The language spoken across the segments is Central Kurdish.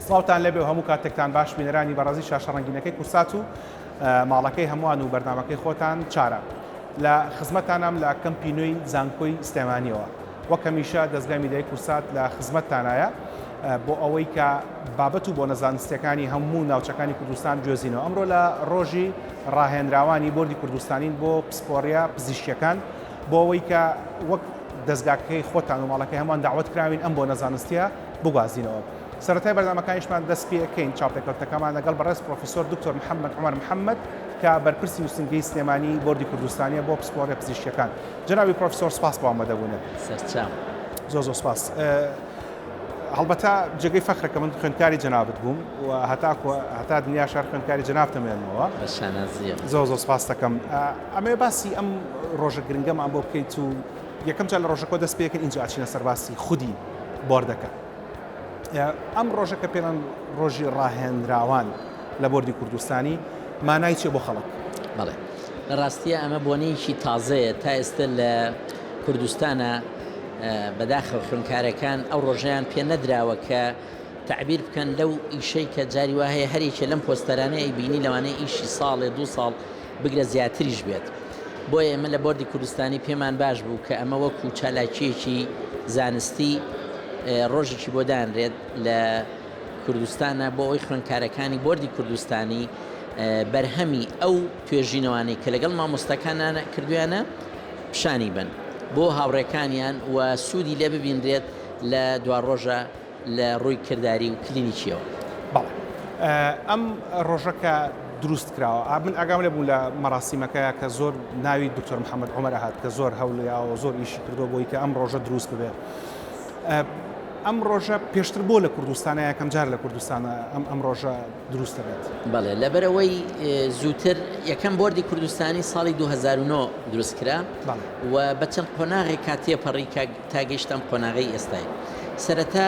سڵاوتان لەبێ و هەموو کاتێکتان باش بینەرانی بەڕازی شاشە ڕنگینەکەی کوسات و ماڵەکەی هەمووان و بەرنمەکەی خۆتان چارە لە خزمەتانام لە کەمپی نوێی زانکۆی سلێمانیەوە وەک هەمیشە دەزگای میدیایی کوردسات لە خزمەتتانایە بۆ ئەوەی کە بابەت و بۆنە زانستیەکانی هەموو ناوچەکانی کوردستان بگوێزینەوە ئەمڕۆ لە ڕۆژی ڕاهێنراوانی بردی کوردستانین بۆ پسپۆڕە پزیشکیەکان بۆ ئەوەی کە وەک دەستگاکەی خۆتان و ماڵەکەی هەمان داوت کراوین ئەم بۆنە زانستیە بگوازینەوە سەرەتای بەردامەکانیشمان دەست پێکەین چاپێکەوتەکەمان لەگەڵ بەڕێز پرۆفیسۆر دکتۆر محەممەد عمر محەممەد کە بەرپرسی نووسنگەی سلێمانی بردی کوردستانیە بۆ پسپۆڕە پزیشکەکان جەنابی پڕۆفیسۆر سپاس بۆ ئامادەبوونت. سەرچاو. زۆر زۆر سپاس. هەڵبەتە جێگەی فەخرە کە من خوێندکاری جەنابت بووم و هەتاکو هەتا دنیا شار خوێندکاری جەناب تەمێنمەوە بە شانازیە زۆر زۆر سپاس دەکەم ئەمێ باسی ئەم ڕۆژە گرنگەمان بۆ بکەیت و یەکەم جار لە ڕۆژەکۆ دەست پێکەن ئینجا ئەچینە سەر باسی خودی بۆردەکە ئەم ڕۆژەکە پێمان ڕۆژی ڕاهێنراوان لە بۆردی کوردستانی مانای چیە بۆ خەڵک؟ بەڵێ لە ڕاستیە ئەمە بۆنەیەکی تازەیە تا ئێستە لە کوردستانا بەداخەوە خوێندکارەکان ئەو ڕۆژەیان پێ نەدراوە کە تعبیر بکەن لەو ئیشەی کە جاری وا هەیە هەرێکێ لەم پۆستەرانەی بینی لەوانەیە ئیشی ساڵێ دوو ساڵ بگرە زیاتریش بێت بۆ ئێمە لە بۆردی کوردستانی پێمان باش بوو کە ئەمە وەکو چالاکیەکی زانستی ڕۆژێکی بۆ دانرێت لە کوردستانە بۆ ئەوەی خوێندکارەکانی بۆردی کوردستانی بەرهەمی ئەو توێژینەوانەی کە لەگەڵ مامۆستاکانان کردویانە پیشانی بن بۆ هاوڕێکانیان و سوودی لێ ببینرێت لە دوا ڕۆژە لە ڕووی کردداری و کلینیکیەوە. بەڵێ ئەم ڕۆژە کە دروست کراوە ئا من ئاگام لێ بوو لە مەراسیمەکەیە کە زۆر ناوی دکتۆر محەممەد عمر هاات کە زۆر هەولیا و زۆر ئیشی کردو بۆی کە ئەم ڕۆژە دروست ببێت. ئەم ڕۆژە پێشتر بۆ لە کوردستانە یەکەم جار لە کوردستانە ئەم ئەم ڕۆژە دروست دەبێت؟ بەڵێ لەبەرەوەی زووتر یەکەم بۆردی کوردستانی ساڵی 2009 دروست کرا و بە چەند قۆناغێکا تێپەڕی تا گەیشتم قۆناغی ئێستای سەرەتا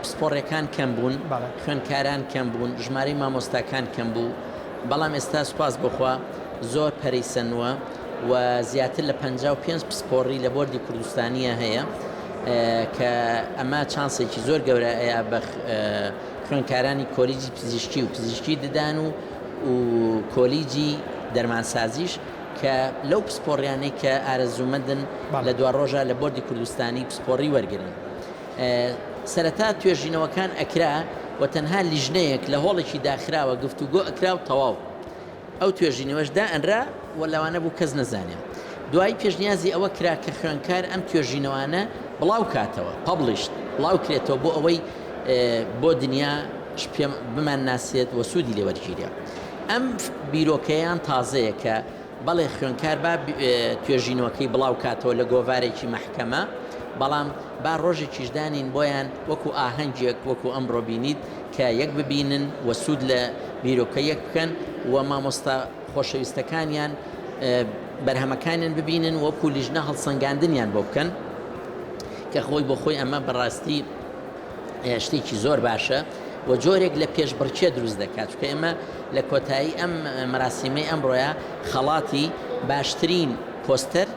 پسپۆڕەکان کەم بوون خوێنکاران کەم بوون ژمارەی مامۆستاکان کەم بوو بەڵام ئێستا سپاس بخوا زۆر پەرەی سەنووە و زیاتر لە پەنجا و پێنج پسپۆڕی لە بۆردی کوردستانییە هەیە کە ئەمە چانسێکی زۆر گەورە ئەیا بە خوێنکارانی کۆلیجی پزیشکی و پزیشکی ددان و و کۆلیجی دەرمانسازیش کە لەو پسپۆڕیانەی کە ئارەزوومەندن لە دوا ڕۆژە لە بردی کوردستانی پسپۆڕی وەرگن سەرەتا توێژینەوەکان ئەکرا و تەنها لیژنەیەک لە هۆڵێکی داخراوە گفتوگۆ ئەکرا و تەواو ئەو توێژینەوەش دائەنرا و لەوانە بوو کەس نەزانێ. دوایی پێشنیازی ئەوە کرا کە خوێندکار ئەم توێژینەوانە بڵاو کاتەوە، Published، بڵاو کرێتەوە بۆ ئەوەی بۆ دنیا بمان ناسێت و سوودی لێ وەرگیرێ. ئەم بیرۆکەیان تازەیە کە بەڵێ خوێندکار با توێژینەوەکەی بڵاو کاتەوە لە گۆڤارێکی مەحکەمە، بەڵام با ڕۆژێکیش دانێین بۆیان وەکوو ئاهەنگێک وەکوو ئەمڕۆ بینیت، کە یەک ببینن و سوود لە بیرۆکە یەک بکەن و مامۆستا خۆشەویستەکانیان بەرهەمەکانیان ببینن وەکو لیژنە هەڵسەنگاندنیان بۆ بکەن کە خۆی بۆ خۆی ئەمە بەڕاستی شتێکی زۆر باشە و جۆرێک لە پێشبڕکێ دروست دەکات کە ئێمە لە کۆتایی ئەم مەراسیمەی ئەمڕۆیە خەڵاتی باشترین پۆستەر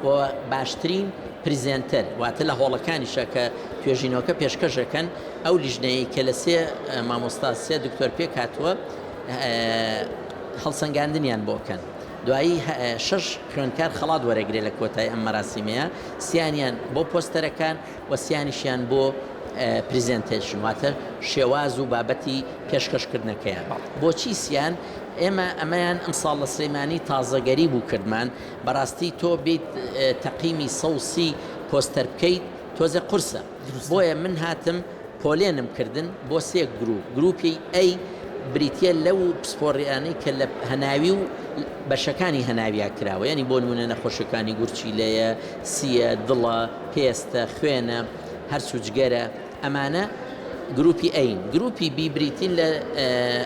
و باشترین پریزێنتەر واتە لە هۆڵەکانیشە کە توێژینەوەکە پێشکەشەکەن ئەو لیژنەیەی کە لە سێ مامۆستا سێ دکتۆر پێکهاتووە هەڵسەنگاندنیان بۆ کەن دوایی شش خوێنکار خەڵات وەرەگرێت لە کۆتای ئەم مەراسیمەیە سیانیان بۆ پۆستەرەکان و سیانیشیان بۆ پریزنتشن واتە شێواز و بابەتی پێشکەشکردنەکەیان بۆچی سیان ئێمە ئەمەیان ئەم ساڵ لە سلەیمانی تازەگەری بوو کردمان بەڕاستی تۆ بیت تەقیمی سەوسی پۆستەر بکەیت تۆزە قورسە بۆیە من هاتم پۆلێنم کردن بۆ سێ گروپ گروپی ئەی بریتە لەو پسپۆڕیانەی کە لە هەناوی و بەشەکانی هەناویا کراوە ینی بۆ نمونە نەخۆشەکانی گورچیلەیە سیە دڵە پێستە خوێنە هەرسوجگەرە ئەمانە گروپی ئەین گروپی بیبریتین لە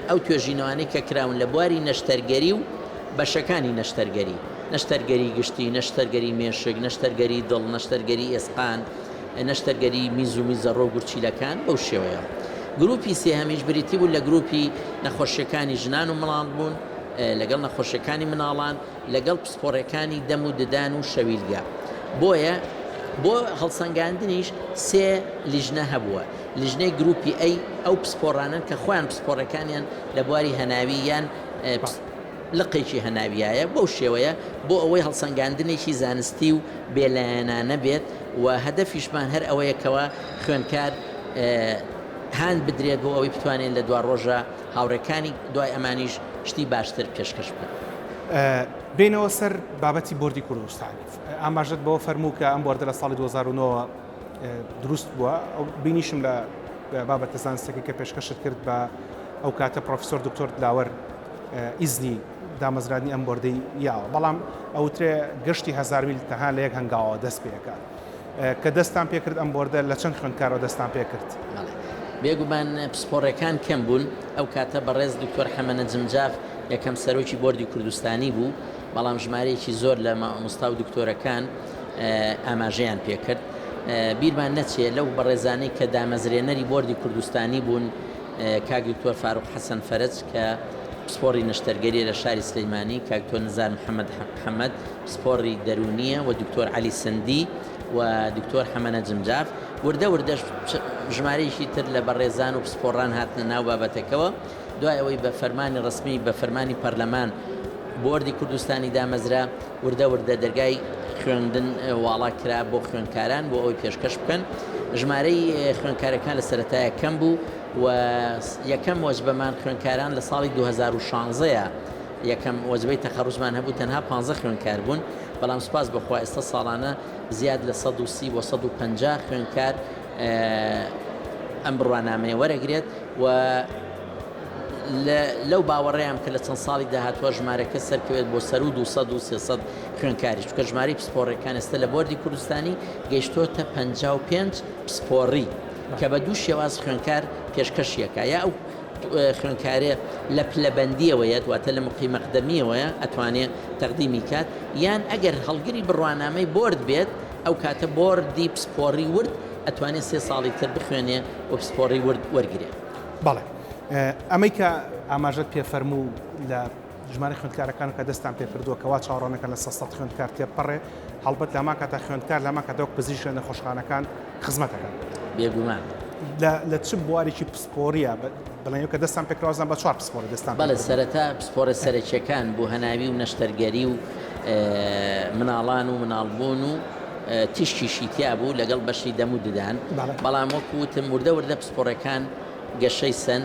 ئەو توێژینەوانی کە کراون لە بواری نەشتەرگەری و بەشەکانی نەشتەرگەری نەشتەرگەری گشتی نەشتەرگەری مێشک نەشتەرگەری دڵ نەشتەرگەری ئێسقان نەشتەرگەریی میز و میزەڕۆ و گورچیلەکان بەو شێوەیە. گرووپی سێهەمیش بریتی بوو لە گرووپی نەخۆشییەکانی ژنان و منداڵبوون، لەگەڵ نەخۆشییەکانی منداڵان، لەگەڵ پسپۆڕییەکانی دەم و ددان و شەویلگە. بۆیە بۆ هەڵسەنگاندنیش سێ لیژنە هەبووە، لیژنەی گرووپی ئەی ئەو پسپۆڕانەن کە خۆیان پسپۆڕییەکانیان لە بواری هەناوی یان. لقێکی هەناویایە بەو شێوەیە بۆ ئەوەی هەڵسەنگاندنێکی زانستی و بێ لایەنانە بێت و هەدەفیشمان هەر ئەوەیە کەوا خوێندکار هان بدرێت بۆ ئەوەی بتوانێت لە دواڕۆژە هاوڕێکانی دوای ئەمانیش شتی باشتر پێشکەش بکەن. بێینەوە سەر بابەتی بۆردی کوردستان. ئاماژەت بەوە فەرموو کە ئەم بۆردە لە ساڵی 2009ەوە دروست بووە ئەو بینیشم لە بابەتە زانستەکە کە پێشکەشت کرد بە ئەو کاتە پرۆفیسۆر دکتۆر دلاوەر ئیزنی دامەزرادنی ئەم بۆردەی یاوە بەڵام ئەوترێ گەشتی هزار میل تەها لە یەک هەنگاوەوە دەست پێکات کە دەستان پێکرد ئەم بۆردە لە چەند خوێندکارەوە دەستان پێکرد بێگومان پسپۆڕەکان کەم بوون ئەو کاتە بەڕێز دکتۆر حەمەنە جمجاف یەکەم سەرۆکی بۆردی کوردستانی بوو بەڵام ژمارەیەکی زۆر لە مامۆستا و دکتۆرەکان ئاماژەیان پێکرد بیرمان نەچێ لەو بەڕێزانەی کە دامەزرێنەری بۆردی کوردستانی بوون کاک دکتۆر فاروق حەسەن فەرەج کە پسپۆڕی نەشتەرگەریە لە شاری سلیمانی، کاک دکتۆر نزار محمد حمد پسپۆڕی دەروونیە و دکتۆر عەلی سندی و دکتۆر حەمەنە جمجاف، وردە وردەش ژمارەیەکی تر لە بەڕێزان و پسپۆڕان هاتنە ناو بابەتەکەوە، دوای ئەوەی بە فەرمانی ڕەسمی بە فەرمانی پەرلەمان بۆردی کوردستانی دامەزرا، وردە وردە دەرگای خوێندن واڵا کرا بۆ خوێندکاران بۆ ئەوەی پێشکەش بکەن. ژمارەی خوێندکارەکان لە سەرەتایە کەم بوو و یەکەم وەجبەمان خوێندکاران لە ساڵی دوو هەزار و شانزە ە یەکەم وەجبەی تەقەروزمان هەبوو تەنها پانزە خوێندکار بوون بەڵام سوپاس بە خوا ئێستا ساڵانە زیاد لە سەد و سی بۆ سەد و پەنجا خوێندکار ئەم بڕوانامەیە وەرەگرێت و لەو باوەڕەیام کە لە چەند ساڵی داهاتووە ژمارەکە سەرکەوێت بۆ سەروو دوو سەد و سێ سەد خوێندکاری، چونکە ژمارەی پسپۆڕییەکان ئێستا لە بۆردی کوردستانی گەیشتۆتە پەنجا و پێنج پسپۆڕی کە بە دوو شێواز خوێندکار پێشکەشی ئەکا، یا ئەو خوێندکارە لە پلەبەندییەوە یەت واتە لە مقی مەقدەمییەوەیە ئەتوانێ تەقدیمی کات، یان ئەگەر هەڵگری بڕوانامەی بۆرد بێت ئەو کاتە بۆردی پسپۆڕی ورد ئەتوانێ سێ ساڵی تر بخوێنێ و پسپۆڕی ورد وەرگرێ. بەڵێ ئەمەی کە ئاماژەت پێ فەرموو لە ژمارەی خوێندکارەکان کە دەستان پێ کردووە کەوا چاوەڕوانەکە لە سە سەد خوێندکار تێپەڕێ هەڵبەت لە ماکاتە خوێندکار لە ماکاتە وەک پزیشک لە نەخۆشخانەکان خزمەتەکەن بێگومان لە چ بوارێکی پسپۆریە بڵێن کە دەستان پێکراوەزان بە چوار پسپۆری دەستان بەڵێ سەرەتا پسپۆرە سەرەکیەکان بۆ هەناوی و نەشتەرگەری و مناڵان و مناڵبوون و تیشکیشی تیا بوو لەگەڵ بەشی دەم و ددان بەڵام وەکوتم وردە وردە پسپۆڕەکان گەشەی سەن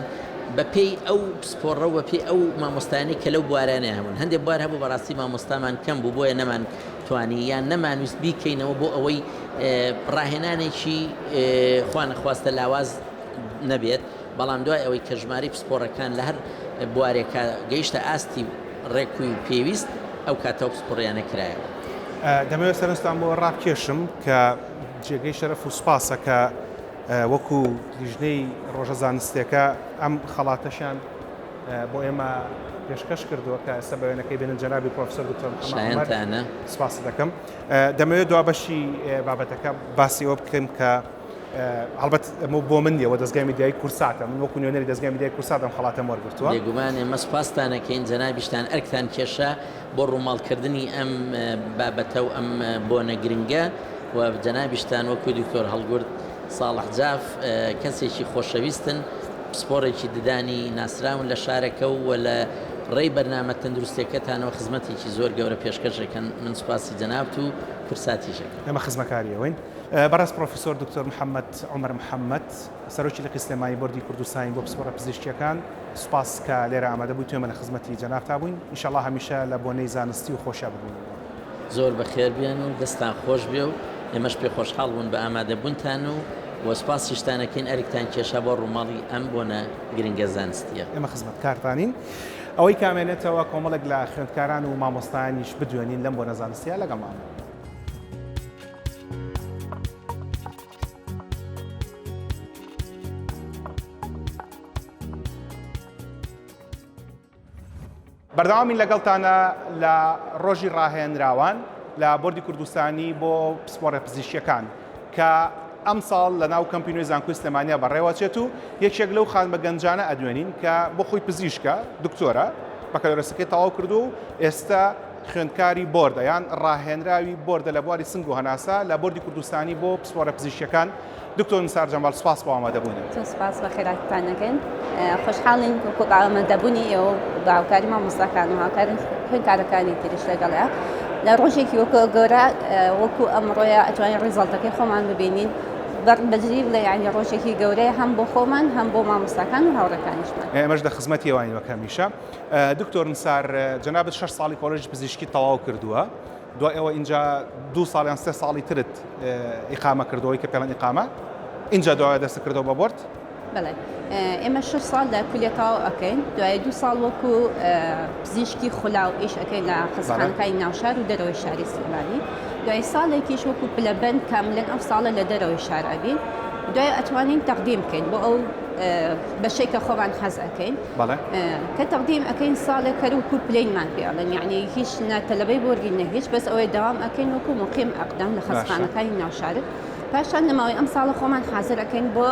بە پێی ئەو پسپۆڕە و بە پێی ئەو مامۆستایانەی کە لەو بوارانەیان هەبوون هەندێ بوار هەبوو بەڕاستی مامۆستامان کەم بوو بۆیە نەمان توانی یان نەمانویست بیکەینەوە بۆ ئەوەی ڕاهێنانێکی خوا نەخواستە لاواز نەبێت بەڵام دوای ئەوەی کە ژماری پسپۆڕەکان لە هەر بوارێکە گەیشتە ئاستی ڕێکوی پێویست ئەو کاتەوە پسپۆڕیانە کرایەوە دەمەوێت سەرنجتان بۆ ڕابکێشم کە جێگەی شەرەف و سوپاسە کە وەکو لیژنەی ڕۆژە زانستیەکە ئەم خەڵاتەشیان بۆ ئێمە پێشکەش کردووە کە ئێستا بەوێنەکەی بێنن جەنابی پرۆفسۆر دکتۆر شایەنتانە سپاست دەکەم دەمەوێت دوا بەشی بابەتەکە باسی ئەوە بکەم کە هەڵبەت ئەمە بۆ من یەوە دەستگای میدیای کورساتە من وەکو نوێنەری دەستگای میدیای کورساتم خڵاتم وەرگتووە بێگومان ئێمە سپاستانەکەین جەنابیشتان ئەرکتان کێشە بۆ ڕووماڵکردنی ئەم بابەتە و ئەم بۆنە گرنگە و جەنابیشتان وەکو دکتۆر هەڵگورد ساڵح جاف کەسێکی خۆشەویستن پسپۆڕێکی ددانی ناسراون لە شارەکە و وە لە ڕێی بەرنامە تەندروستیەکەتانەوە خزمەتێکی زۆر گەورە پێشکەش دەکەن من سوپاسی جەنابت و کورساتیژەکەم. ئێمە خزمەکاری ئێوەین بەڕێز پڕۆفیسۆر دکتۆر محەمەد عومەر محەمەد. سەرۆکی لقی سلێمانی بۆردی کوردستانی بۆ پسپۆڕە پزیشکیەکان، سوپاس کە لێرە ئامادە بوویت توێمە لە خزمەتی جەنابتا بووین، ان شاء اللە هەمیشە لە بۆنەی زانستی و خۆشیا ببینینەوە. زۆر بەخێربێن و دەستتان خۆش بێ و ئێمەش پێ خۆشحاڵ بوون بە ئامادە بوونتان و و سوپاسیشتان ئەکەین ئەرکتان کێشا بۆ ڕووماڵی ئەم بۆنە گرنگە زانستیە. ئێمە خزمەتکارتانین. ئەوەی کە ئەمەێنێتەوە کۆمەڵێک لە خوێندکاران و مامۆستایانیش بدوێنین لەم بۆنە زانستیە لەگەڵمان بن. بەرداوامی لەگەڵتانە لە ڕۆژی ڕاهێنراوان لە بردی کوردستانی بۆ پسپۆڕە پزیشکەکان کە ئەم ساڵ لە ناو کەمپینوی زانکوی سلێمانیا بەڕێوەچێت و یەکێک لەو خان بە گەنجانە ئەدوێنین کە بۆ خۆی پزیشکە دکتۆرە بەکەلۆرەسەکەی تەواو کردو و ئێستا خوێندکاری بۆردە یان ڕاهێنراوی بۆردە لە بواری سنگ و هەناسە لە بۆردی کوردستانی بۆ پسپۆرە پزیشکیەکان دکتۆر نسار جەمال سپاس بۆ ئامادەبوونی سپاس بە خێراکتان دەکەین خۆشحاڵین وەکو ئامادەبوونی ئێوە بە هاوکاری مامۆستاکان و هاوکاری خوێندکارەکانی تریش لەگەڵە لە ڕۆژێکی وەکو گەورە وەکو ئەمڕۆیە ئەتوانین ڕیزڵتەکەی خۆمان ببینین بەجلی لە یانی ڕۆژێکی گەورەیە هەم بۆ خۆمان هەم بۆ مامۆستاکان و هاوڕەکانیشمان ئێمەش دە خزمەتیوانین وەکەمیشە دکتۆر نسار جەنابت شەش ساڵی کۆلێژی پزیشکی تەواو کردووە دوای ئەوە ئینجا دوو ساڵ یان سێ ساڵی ترت ئیقامە کردەوەی کە پێڵەن ئیقامە ئینجا دوای دەست کردەوە بە بۆرد بڵێ ئێمە شش ساڵ لە کولێ تاو ئەەکەین دوای دو ساڵ وەکو پزیشکی خولا و ئیش ئەەکەین لە خزانەکانی ناوشار و دەرەوەی شاری سلێمانی دوای ساڵێکیش وەکو پلەبند کاملەن ئەم ساڵە لە دەرەوەی شار ئەبین دوای ئەتوانین تەقدیم بکەین بۆ ئەو بەشێکە خۆمان حەز ئەەکەین بەڵێ. کە تەقدیم ئەکەین ساڵێک کەر و کور پلەینمان پێ ئەڵێن یەعنی هیچ نە تەلەبەی بۆردین نە هیچ بەس ئەوەیە دەوام ئەکەین وەکو موقیم ئەقدام لە خەستخانەکانی ناو شارک پاشان لە ماوەی ئەم ساڵە خۆمان حازر ئەکەین بۆ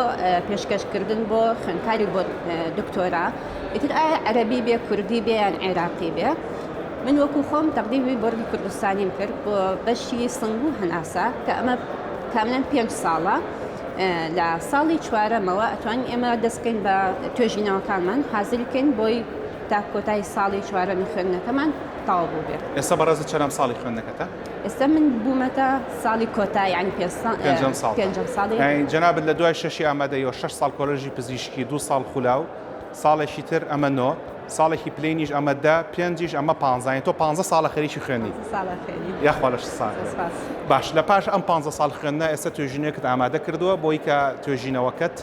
پێشکەشکردن بۆ خوێندکاری بۆ دکتۆرا ئیتر ئایا عەرەبی بێ کوردی بێ یان عێراقی بێ من وەکو خۆم تەقدیمی بۆردی کوردستانیم کرد بۆ بەشی سنگ و هەناسە کە ئەمە کاملەن پێنج ساڵە لە ساڵی چوارەمەوە ئەتوانین ئێمە دەست بکەین بە توێژینەوەکانمان حازری بکەین بۆی تا کۆتای ساڵی چوارەمی خوێندنەکەمان تەواو بووبێت. ئێستا بەڕێزت چەنەم ساڵی خوێندنەکەتە؟ ئێستا من بوومەتە ساڵی کۆتا یانی پێنج ساڵ پێنجەم ساڵتە پێنجەم ساڵی یانی جەنابت لە دوای شەشی ئامادەیی و شەش ساڵ کۆلێژی پزیشکی دوو ساڵ خولاو ساڵێکی تر ئەمە نۆ ساڵێکی پلینیش ئەمە دە پێنجیش ئەمە پانزانین تۆ پانزە ساڵە خەریکی خوێنی یاخوا لە ساڵ باش لە پاش ئەم پانزە ساڵ خوێندنا ئێستا توێژینێکت ئامادە کردووە بۆی کە توێژینەوەکەت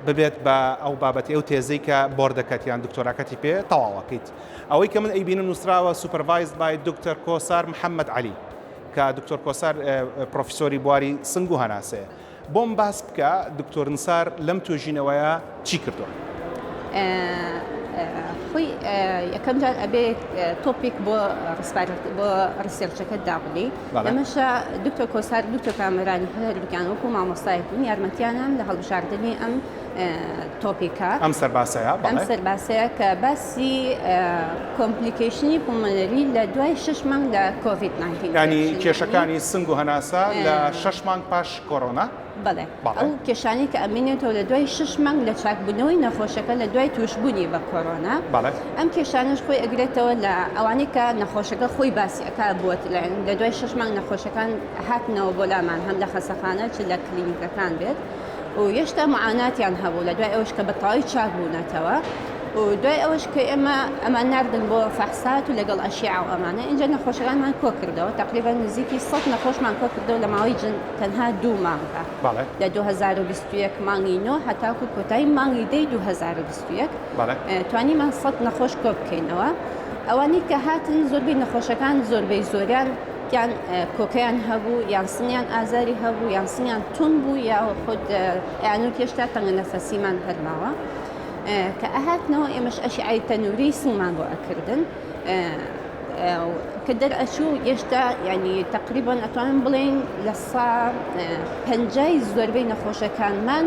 ببێت بە ئەو بابەتی ئەو تێزەی کە بۆردەکەت یان دکتۆراکەتی پێ تەواوەکەیت ئەوەی کە من ئەیبینم نووسراوە سوپەرڤایز بای دکتەر کۆسار محەممەد علی کە دکتۆر کۆسار پرۆفیسۆری بواری سنگ و هەناسەیە بۆم باس بکە دکتۆر نسار لەم توێژینەوەیە چی کردوە؟ خۆی یەکەم جار ئەبێ تۆپیک بۆ بۆ ڕسێرچەکە دابنی ئەمەشە دکتۆر کۆسار دکتۆر کامەرانی هەردووکیان وەکو مامۆستایەکون یارمەتیانم لە هەڵبژاردننی ئەم تۆپیکە ئەم سەرباسەیە ئەم سەرباسەیە کە باسی کۆمپلیکیشنی پڵمەنەری لە دوای شش مانگ لە کۆڤید ناهیانی کێشەکانی سنگ و هەناسە لە شش مانگ پاش کۆرۆنا بڵێ ئەو کێشانی کە ئەمینێتەوە لە دوای شش مانگ لە چاکبوونەوەی نەخۆشەکە لە دوای توشببوونی بە کۆرۆنا ئەم کێشانش خۆی ئەگرێتەوە لە ئەوانەی کە نەخۆشەکە خۆی باسی ئەک بووەت لە لە دوای شش مانگ نەخۆشەکان هاتنەوە بۆ لامان هەم لە خەسەخانە چ لە کلینیکەکان بێت. و یەشتا معاناتیان هەبوو لە دوای ئەوش کە بە تەواوی چاک بوونەتەوە و دوای ئەوش کە ئێمە ئەمان ناردن بۆ فەحسات و لەگەڵ ئەشیعە و ئەمانە ئینجا نەخۆشەکانمان کۆ کردەوە تقریبا نزیکی سەد نەخۆشمان کۆ کردەوە لە ماوەی جن تەنها دوو مانگە بەڵێ لە 2021 مانگی نۆ هەتاکو کۆتایی مانگی دەی 2021 بەڵێ توانیمان سەد نەخۆش کۆ بکەینەوە ئەوانەی کە هاتن زۆربەی نەخۆشەکان زۆربەی زۆریان یان کۆکەیان هەبوو یان سنگیان ئازاری هەبوو یان سنگیان توند بوو یا خود ئەیانوت هێشتا تەنگە نەفەسیمان هەر ماوە کە ئەهاتنەوە ئێمەش ئەشعای تەنووری سنگمان بۆ ئەکردن کە دەرئەچوو گەشتا ینی تقریبان ئەتوانم بڵێن لە سا پەنجای زۆربەی نەخۆشەکانمان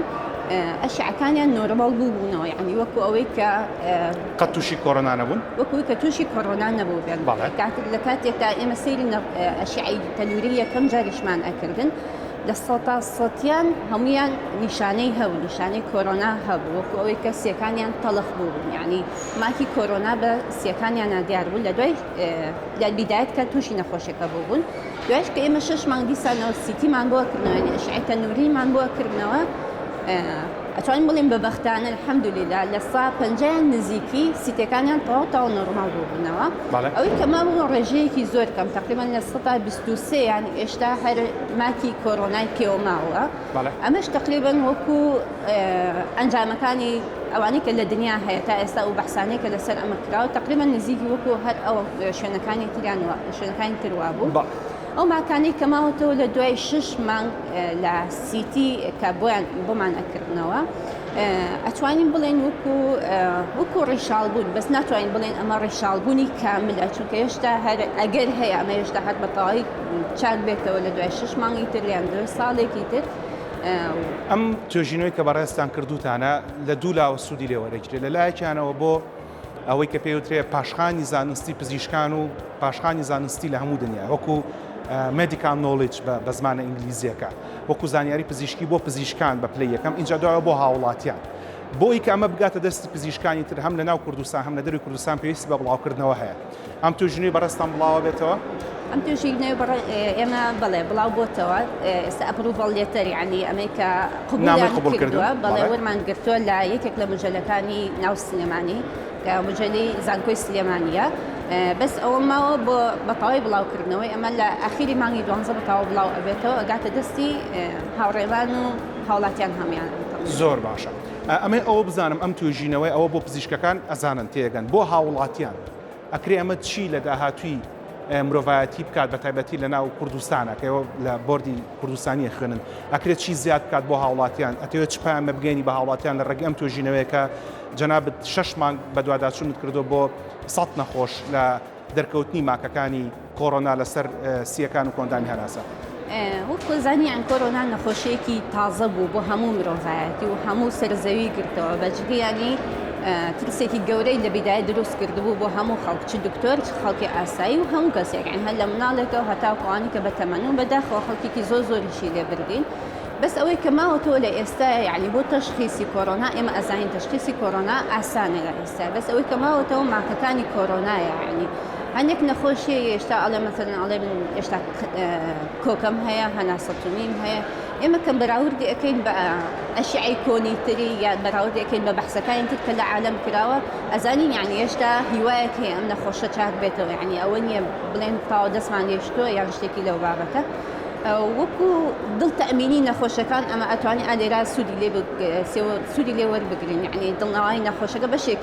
ئەشعەکانیان نۆرمەڵ بوو بوونەوە یعنی وەکو ئەوەی کە قەت تووشی کۆرۆنا نەبوون وەکوی کە تووشی کۆرۆنا نەبوو بێن لە کاتێکدا ئێمە سەیری ئەشعی تەنوری یەکەم جاریشمان ئەکردن لە سەتا سەتیان هەمویان نیشانەی هەبوو نیشانەی کۆرۆنا هەبوو وەکو ئەوەی کە سیەکانیان تەڵخ بوو ینی ماکی کۆرۆنا بە سیەکانیان نادیار بوو لە دوای لە بیدایت کە تووشی نەخۆشیەکە بوو بوون دوایش کە ئێمە شش مانگی سانەوە سیتیمان بۆ کردنەوە ئەشعی تەنوریمان بۆ کردنەوە ئەتوانین بڵێین بە بەختانە الحمدللە لە سا پەنجایان نزیکی سیتەکانیان تەواو تەواو نۆرماڵ بووبوونەوە ئەوەی کە مابووە ڕێژەیەکی زۆر کەم تقریبان لە سەدا بیست و سێ یان ئێشتا هەر ماکی کۆرۆنای پێوە ماوە ئەمەش تقریبان وەکو ئەنجامەکانی ئەوانەی کە لە دنیا هەیە تا ئێستا و بەحسانەی کە لەسەر ئەمە کراوە تقریبان نزیکی وەکو هەر ئەو شوێنەکانی تریان شوێنەکانی تروا بوو ئەو ماکانەی کە ماوەتەوە لە دوای شش مانگ لە سیتی کە بۆیان بۆمان ئەکردنەوە ئەتوانین بڵێن وەکو وەکو ڕیشال بوون بەس ناتوانین بڵێن ئەمە ڕیشالبوونی کاملە چونکە هێشتا هەر ئەگەر هەیە ئەمە هێشتا هەر بەتەواوی چاک بێتەوە لە دوای شش مانگی تر یان دوای ساڵێکی تر ئەم توێژینەوەی کە بەڕێزتان کردوتانە لە دوو لاوە سوودی لێوەرەگیرێت لە لایەکیانەوە بۆ ئەوەی کە پێی وترێ پاشخانی زانستی پزیشکان و پاشخانی زانستی لە هەموو دنیا وەکو مدیکال نۆلیج بە زمانە ئینگلیزیەکە وەکو زانیاری پزیشکی بۆ پزیشکان بە پلی یەکەم اینجا داوە بۆ هاوڵاتیان بۆی کە ئەمە بگاتە دەستی پزیشکانی تر هەم لە ناو کوردستان هەم لە دەروی کوردستان پێویست بە بڵاوکردنەوە هەیە ئەم توژینەوەی بەڕێزتان بڵاوە بێتەوە؟ ئەم توێژینەوەی بەڕێز ئێمە بەڵێ بڵاو بۆتەوە ئێستا ئەپڕوڤەڵ لێتەر یعنی ئەمەی کە قبوڵیان کردووە بەڵێ وەرمان گرتووە لە یەکێک لە مجەلەکانی ناو سلێمانی کە مجەلی زانکۆی سلێمانیە بەس ئەوە ماوە بۆ بەتەواوی بڵاوکردنەوەی ئەمە لە ئاخیری مانگی دوانزە بەتەواو بڵاو ئەبێتەوە ئەگاتە دەستی هاوڕێوان و هاوڵاتیان هەموان زۆر باشە ئەمەی ئەوە بزانم ئەم توێژینەوەی ئەوە بۆ پزیشکەکان ئەزانن تێگەن بۆ هاوڵاتیان ئەکرێ ئەمە چی لە داهاتووی مرۆڤایەتی بکات بە تایبەتی لە ناو کوردستانە کەەوە لە بردی کوردستانیە خوێنن ئەکرێت چی زیاد بکات بۆ هاوڵاتیان ئەتەوێت چ پایان بەبگەنی بە هاوڵاتیان لە ڕێگەم توێژینەوەیەکە جەنابەت شش مانگ بەدواداچونت کردو بۆ سەد نەخۆش لە دەرکەوتنی ماکەکانی کۆرۆنا لەسەر سییەکان و کۆندامی هەناسە. وەکو زانیان کۆرۆنا نەخۆشیەکی تازە بوو بۆ هەموو مرۆڤایەتی و هەموو سەر زەوی گرتەوە بەجدیانی ترسێکی گەورەی لە بیدای دروست کردبوو بۆ هەموو خەڵک چ دکتۆر چ خەڵکی ئاسایی و هەموو کەسێک هەر لە مناڵێکەوە هەتا کوانی کە بە تەمەن و بەداخەوە خەڵکێکی زۆر زۆریشی لێ بردین بەس ئەوەی کە ماوەتەوە لە ئێستا یعنی بۆ تەشخیسی کۆرۆنا ئێمە ئەزانین تەشخیسی کۆرۆنا ئاسانە لە ئێستا بەس ئەوەی کە ماوەتەوە ماکەکانی کۆرۆنایە یعنی هەندێک نەخۆشیە ئێشتا ئەڵێ مەسەن ئەڵێم ئێشتا کۆکەم هەیە هەناسەتونیم هەیە ئێمە کەم بەراوردی ئەەکەین بە ئەشعی کۆنی تری یا بەراوردی ئەەکەین بە بەحسەکانی تر کە لە عالم کراوە ئەزانی یعنی ئێشتا هیوایەت هەیە ئەم نەخۆشە چاک بێتەوە یعنی ئەوە نییە بڵێن تاوە دەستمان گەشتووە یان شتێکی لەو بابەتە. وەکو دڵ تەمینی نەخۆشەکان ئەمە ئەتوانین ئالێرا سوودی لێ سوودی لێ وەربگرین یعنی دڵنەوەی نەخۆشەکە بەشێک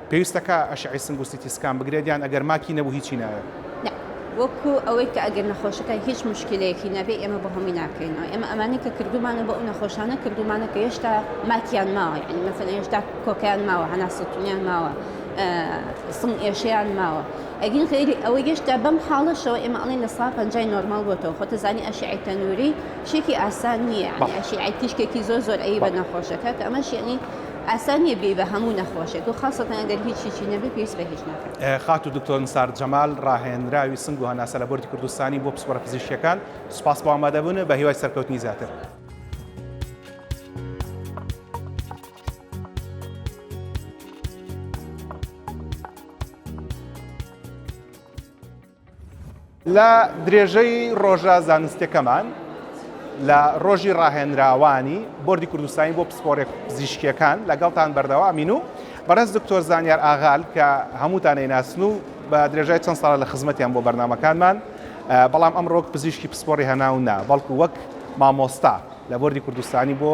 پێویستە کا ئەشعەی سنگ و سیتی سکان بگرێت یان ئەگەر ماکی نەبوو هیچی نایەت؟ نا وەکو ئەوەی کە ئەگەر نەخۆشەکە هیچ موشکیلەیەکی نەبێت ئێمە بۆ هەمووی ناکەینەوە ئێمە ئەمانەی کە کردومانە بۆ ئەو نەخۆشانە کردومانە کە هێشتا ماکیان ماوە یعنی مەسەلەن هێشتا کۆکەیان ماوە هەناسەتونیان ماوە سڵ ئێشەیان ماوە ئەگین غێری ئەوە گەشتا بەم حاڵەشەوە ئێمە ئەڵێن لە سا پەنجای نۆرمال بۆتەوە خۆتە زانی ئەشیعی تەنووری شێکی ئاسان نییە ئەشیعی تیشکێکی زۆر زۆر ئەی بە نەخۆشەکە کە ئەمەش یعنی ئاسان نیە بێی بە هەموو نەخۆشێک و خاسەتەن ئەگەر هیچ هیچی نەبێ پێویست بە هیچ ناکات. خاتوو دکتۆر نسار جەمال، ڕاهێنراوی سنگ و هەناسە لە بۆردی کوردستانی بۆ پسپۆڕە پزیشکییەکان، سوپاس بۆ ئامادەبوونت، بە هیوای سەرکەوتنی زیاتر. لە درێژەی ڕۆژە زانستیەکەمان لە ڕۆژی ڕاهێنراوانی بردی کوردستانی بۆ پسپۆرێک پزیشکیەکان لەگەڵتان بەردەوامین و بەڕێز دکتۆر زانیار ئاغال کە هەمووتانەی ناسن و بە درێژای چەند ساڵە لە خزمەتیان بۆ بەرنمەکانمان بەڵام ئەمڕۆک پزیشکی پسپۆری هەناو نا بەڵکو وەک مامۆستا لە بردی کوردستانی بۆ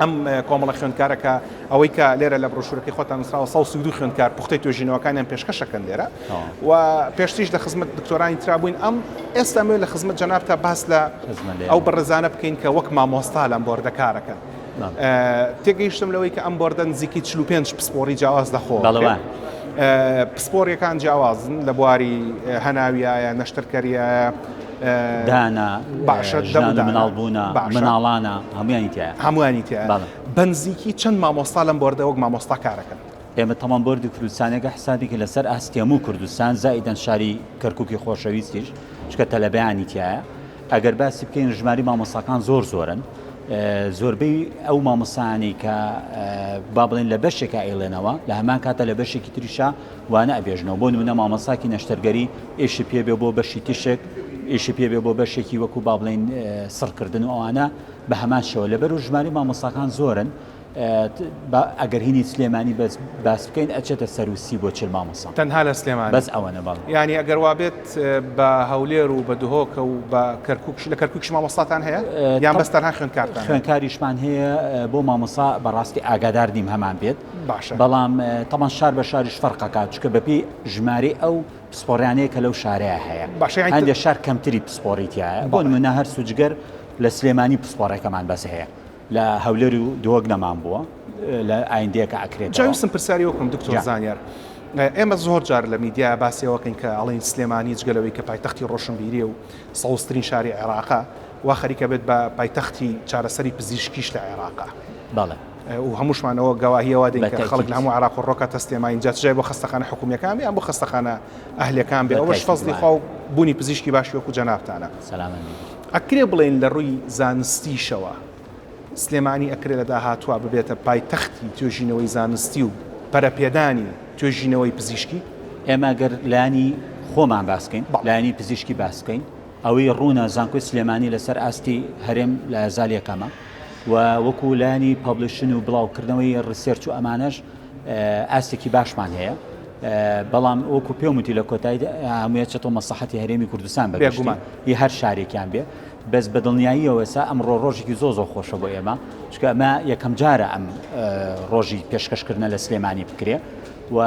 ئەم کۆمەڵە خوێندکارە کە ئەوەی کە لێرە لە بڕشورەکەی خۆتان نووسراوە 132 خوێندکار پوختەی توێژینەوەکانیان پێشکەشەکەن لێرە و پێشتریش لە خزمەت دکتۆرانی ترابووین ئەم ئێستا مێ لە خزمەت جەناب تا باس لە ئەو بەڕێزانە بکەین کە وەک مامۆستا لەم بۆردەکارەکەن تێگەیشتم لەوەی کە ئەم بۆردە نزیکی 45 پسپۆری جیاواز دەخۆ پسپۆریەکان جیاوازن لە بواری هەناویایە نەشتەرکەریە دانا باشە ژنان و مناڵ بوونە باشە. مناڵانە هەمویانی تایە هەمویانی تایە بەڵێ. بەنزیکی چەند مامۆستا لەم بۆردە وەک مامۆستا کارەکەن ئێمە تەمام بۆردی کوردستانەکە حسابی کە لەسەر ئاستی هەموو کوردستان زائیدەن شاری کەرککی خۆشەویستیش چکە تەلەبیانی تایە ئەگەر باسی بکەین ژماری مامۆستاکان زۆر زۆرن زۆربەی ئەو مامۆسانی کە با بڵێن لە بەشێکە ئەیڵێنەوە لە هەمان کاتە لە بەشێکی تریشا وانە ئەبێژنەوە بۆ نمونە مامۆستاکی نەشتەرگەری ئیشی پێ بێ بۆ بەشی تیشک ئیشی پێ بێ بۆ بەشێکی وەکو با بڵین سڕکردن و ئەوانە بە هەمان شەوە لەبەر و ژماری مامۆستاکان زۆرن ئەگەر هینی سلێمانی بەس باس بکەین ئەچێتە سەروسی بۆ چل مامۆسا تەنها لە سلێمان بەس ئەوەنە باڵ ینی ئەگەر وابێت بە هەولێر و بە دهۆکە و بە کەرککش لە کەرککشی مامۆستاتان هەیە یان بەستەرها خوێنکارتان خوێنکاریشمان هەیە بۆ مامۆسا بەڕاستی ئاگادار نیم هەمان بێت باشە بەڵام تەمان شار بە شاریش فەرقەکات چکە بەپی ژماری ئەو پسپۆریانەیە کە لەو شارەیە هەیە باشە هەندێ شار کەمتری پسپۆریتیایە بۆ منە هەر سوجگەر لە سلێمانی پسپۆڕێکەمان بەس هەیە لە هەولێر و دۆک نەمان بووە لە ئایندەیەکە ئەکرێت جاویستم پرسیاری وەکم دکتۆر زانیار ئێمە زۆر جار لە میدیا باسیەوەکەین کە ئەڵین سلێمانی جگەلەوەی کە پایتەختی ڕۆشنبیری و سەوزترین شاری عێراقا وا خەریکە بێت بە پایتەختی چارەسەری پزیشکیش لە عێراقا بەڵێ و هەمووشمان ئەوە گەواهی ئەوە دەین کە خەڵک لە هەموو عێراق و ڕۆکە تەستێمە ئینجا چ جای بۆ خەستەخانە حکوومییەکان بێ یان بۆ خەستەخانە ئەهلییەکان بێ ئەوەش فەزڵی خوا و بوونی پزیشکی باشی وەکوو جەنابتانە سەلامەت بیت. ئەکرێ بڵێین لە ڕووی زانستیشەوە سلێمانی ئەکرێ لە داهاتووا ببێتە پایتەختی توێژینەوەی زانستی و پەرەپێدانی توێژینەوەی پزیشکی؟ ئێمە گەر لایەنی خۆمان باس بکەین، لایەنی پزیشکی باس بکەین، ئەوەی ڕوونە زانکۆی سلێمانی لەسەر ئاستی هەرێم لایەزال یەکەمە، و وەکو لایەنی پەبلیشن و بڵاوکردنەوەی ڕیسێرچ و ئەمانەش ئاستێکی باشمان هەیە بەڵام وەکو پێم وتی لە کۆتایی هەموویە چەتۆ مەسەحەتی هەرێمی کوردستان بەگومان ی هەر شارێکیان بێ بەس بە دڵنیاییەوەسا ئەمڕۆ ڕۆژێکی زۆ زۆ خۆشە بۆ ئێمە چکە ئەمە یەکەم جارە ئەم ڕۆژی پێشکەشکردە لە سلێمانی بکرێ و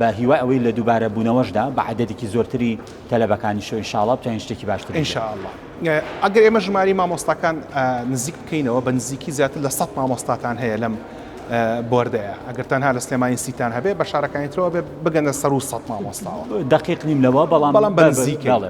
بە هیوای ئەوەی لە دووبارە بوونەوەشدا بە عادەتێکی زۆرتری تەلەبەکانی شۆ ئینشاالله بتوانین شتێکی باشتر انشاءالله ئەگەر ئێمە ژمارەی مامۆستاکان نزیک بکەینەوە بە نزیکی زیاتر لە سەد مامۆستاتان هەیە لەم بۆردەیە ئەگەر تەنها لە سلێمانی سیتان هەبێ بە شارەکانی ترەوە بێ بگەنە سەر و سەد مامۆستاوە دقیق نیم لەوە بەڵام بەڵام بەنزیکەڵێ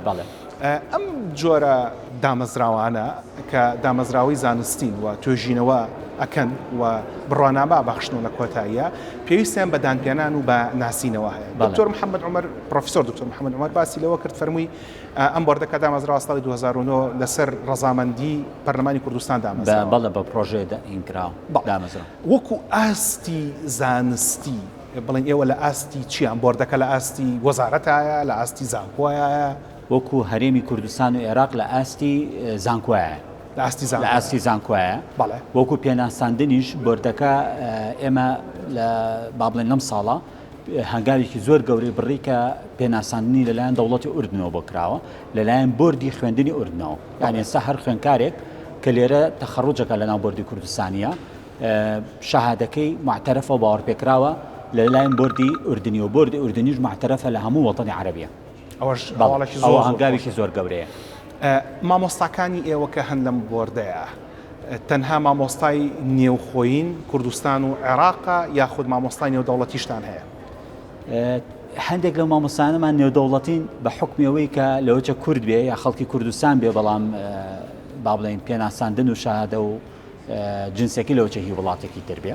ئەم جۆرە دامەزراوانە کە دامەزراوەی زانستین و توێژینەوە ئەکەن و بڕوانامە بەخشنەوە لە کۆتاییە پێویستیان بە دانپێنان و بە ناسینەوە هەیە دکتۆر محەممەد عمر پرۆفسۆر دکتۆر محەممەد عمر باسی لەوە کرد فەرمووی ئەم بۆردە کە دامەزراوە ساڵی دوو هەزار و نۆ لەسەر ڕەزامەندی پەرلەمانی کوردستان دامەزراوە. بەڵێ بە پڕۆژەیە داینکراو دامەزراوە. وەکو ئاستی زانستی بڵێن ئێوە لە ئاستی چی ئەم بۆردەکە لە ئاستی وەزارەتایە لە ئاستی زانکۆیە؟ وەکو هەرێمی کوردستان و ئێراق لە ئاستی زانکۆیە. لە ئاستی زانکۆیە. لە ئاستی زانکۆیە. بەڵێ. وەکو پێناساندنیش بۆردەکە ئێمە لە با بڵێن لەم ساڵە هەنگاوێکی زۆر گەورەی بڕی کە پێناساندنی لەلایەن دەوڵەتی ئوردنەوە بۆ کراوە لەلایەن بردی خوێندنی ئوردنەوە یان ئێستا هەر خوێندکارێک کە لێرە تەخەڕۆجەکە لە ناو بردی کوردستانیە شەهادەکەی معتەرەفە و باوەڕپێکراوە لەلایەن بردی ئوردنی و بردی ئوردنیش معتەرەفە لە هەموو وڵاتانی عربیە ئەوەش هەواڵێکی زۆر هەنگاوێکی زۆر گەورەیە مامۆستاکانی ئێوە کە هەن لەم بۆردەیە تەنها مامۆستای نێوخۆیین کوردستان و عێراقە یاخود مامۆستای نێودەوڵەتیشتان هەیە؟ هەندێک لەو مامۆستانەمان نێودەوڵەتین بە حکمی ئەوەی کە لەوەچە کورد بێ یا خەڵکی کوردستان بێ بەڵام با بڵێن پێناساندن و شەهادە و جنسێکی لەوچە هی وڵاتێکی تر بێ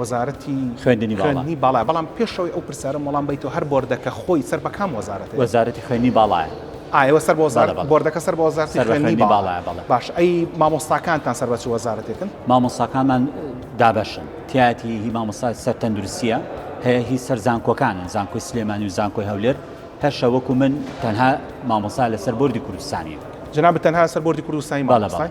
وەزارەتی خوێندنی خوێندنی باڵا بەڵام پێشەوەی ئەو پرسیارم وەڵام بیتەوە هەر بۆردەکە خۆی سەر بە کام وەزارەت وەزارەتی خوێندنی باڵایە ئایەوە سەر بۆ وەزارەت بەڵێ، بەڵێ. بۆردەکە سەر بە وەزارەتی سەر بە خوێندنی خوێندنی باڵا باڵایە، بەڵێ. باش ئەی مامۆستاکانتان سەر بە چ وەزارەتێکن مامۆستاکانمان دابەشن تایەتی هی مامۆستا سەر تەندروستیە هەیە هی سەر زانکۆکانن زانکۆی سلێمانی و زانکۆی هەولێر هەشە وەکو من تەنها مامۆستا لەسەر بردی کوردستانیم جنابت تەنها سەر بۆردی کوردستانی بەڵێ، بەڵێ. مامۆستای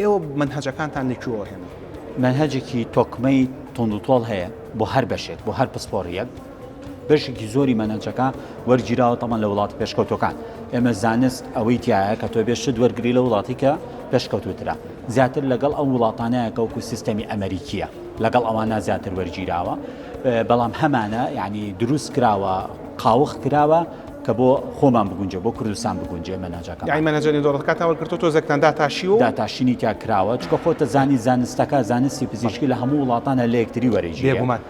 ئێوە مەنهەجەکانتان لە کوێوە هێنا؟ مەنهەجێکی تۆکمەی توندوتۆڵ هەیە بۆ هەر بەشێک بۆ هەر پسپۆڕیەک بەشێکی زۆری مەنهەجەکە وەرگیراوە تەمان لە وڵاتی پێشکەوتەکان ئێمە زانست ئەوەی تایە کە تۆ بێشت وەرگری لە وڵاتی کە پێشکەوتوترا زیاتر لەگەڵ ئەو وڵاتانەیە کەوکو سیستەمی ئەمریکیە لەگەڵ ئەوانە زیاتر وەرگیراوە بەڵام هەمانە یعنی دروست کراوە قاوخ کراوە کە بۆ خۆمان بگونجێ بۆ کوردستان بگونجێ مەنهەجەکەمان. یەعنی مەنهەجە نێودەوڵەتەکاتان وەرگرتووە تۆزێکتان داتاشیوە و. داتاشینی تیا کراوە چونکە خۆتە زانی زانستەکە زانستی پزیشکی لە هەموو وڵاتان هەر لە یەکتری وەرێگیرێ. بێگومان.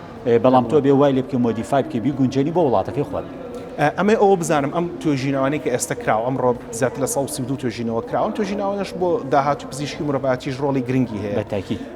بەڵام تۆ ئەبێ وای لێ بکەی مۆدیفای بکەی بیگونجێنی بۆ وڵاتەکەی خۆت. ئەمەی ئەوە بزانم ئەم توێژینەوانەی کە ئێستا کراوە ئەمڕۆ زیاتر لە سەد و سی و دوو توێژینەوە کراوە ئەم توێژینەوانەش بۆ داهاتووی پزیشکی و مرەڤایەتیش ڕۆڵی گرنگی هەیە. بە تاکید.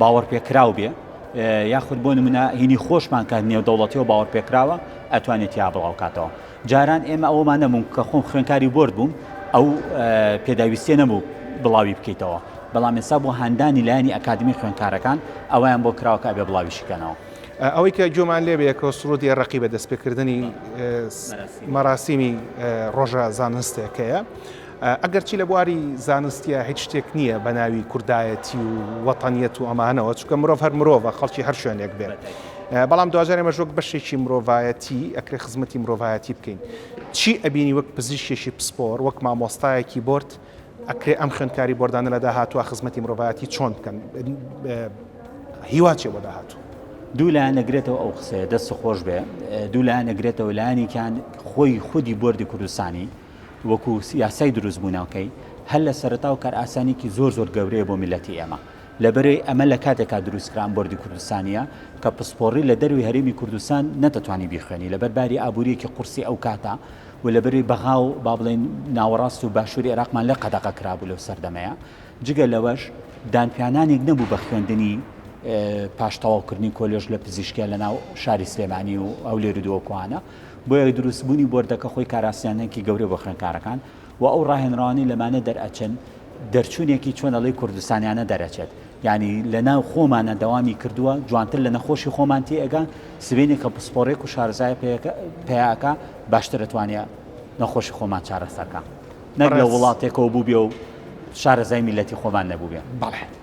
باوەڕپێکراو بێ یاخود بۆ نمونە هینی خۆشمان کە نێودەوڵەتیەوە باوەڕپێکراوە ئەتوانێت تیا بڵاوکاتەوە جاران ئێمە ئەومان نەبووم کە خۆم خوێنکاری بۆرد بووم ئەو پێداویستە نەبوو بڵاوی بکەیتەوە بەڵام ئێستا بۆ هاندانی لایەنی ئەکادمی خوێنکارەکان ئەویان بۆ کراوەکە ئەبێ بڵاویشکەنەوە ئەوەی کە گوێمان لێ بەیەکەوە سرودی ڕقی بە دەستپێکردنی مەراسیمی ڕۆژە زانستێکەیە ئەگەرچی لە بواری زانستیا هیچ شتێک نییە بە ناوی کوردایەتی و وەتەنیەت و ئەمانەوە چونکە مرۆڤ هەر مرۆڤە خەڵکی هەر شوێنێک بێت بەڵام دواجار ئێمەش وەک بەشێکی مرۆڤایەتی ئەکرێ خزمەتی مرۆڤایەتی بکەین چی ئەبینی وەک پزیشکێکی پسپۆر وەک مامۆستایەکی بۆرد ئەکرێ ئەم خوێندکاری بۆردانە لە داهاتوە خزمەتی مرۆڤایەتی چۆن بکەن هیواچێ بۆ داهاتوو دوو لایەن نەگرێتەوە ئەو قسەیە دەست خۆش بێ دوو لایەن نەگرێتەوە لایەنێکیان خۆی خودی بردی کوردستانی وەکو یاسای دروست بوونەوەکەی هەر لە سەرەتا و کارئاسانیکی زۆر زۆر گەورەیە بۆ میلەتی ئێمە لەبەرەی ئەمە لە کاتێکا دروستکران بۆردی کوردستانیە کە پسپۆڕی لە دەروی هەرێمی کوردستان نەتەتوانی بیخوێنی لەبەر باری ئابووریەکی قورسی ئەو کاتە و لەبەری بەغا و با بڵێن ناوەڕاست و باشووری عێراقمان لە قەدەقە کرابوو لەو سەردەمەیە جگە لەوەش دانپیانانێک نەبوو بە خوێندنی پاش تەواوکردنی کۆلێژ لە پزیشکیا لە ناو شاری سلێمانی و ئەو لێرو دۆکوانە بۆیە دروستبوونی بۆردەکە خۆی کاراسیانەیەکی گەورەیە بۆ خوێندکارەکان و ئەو ڕاهێنراوانەی لەمانە دەرئەچن دەرچوونێکی چۆنەڵی کوردستانیانە دەرەچێت یعنی لە ناو خۆمانە دەوامی کردووە جوانتر لە نەخۆشی خۆمان تێگا سبێنێکە پسپۆڕێک و شارزای پیاکە باشتر دەتوانێت نەخۆشی خۆمان چارەسەکە نەک لە وڵاتێکەوە بووبێ و شارەزای میلەتی خۆمان نەبووبێ بەڵێ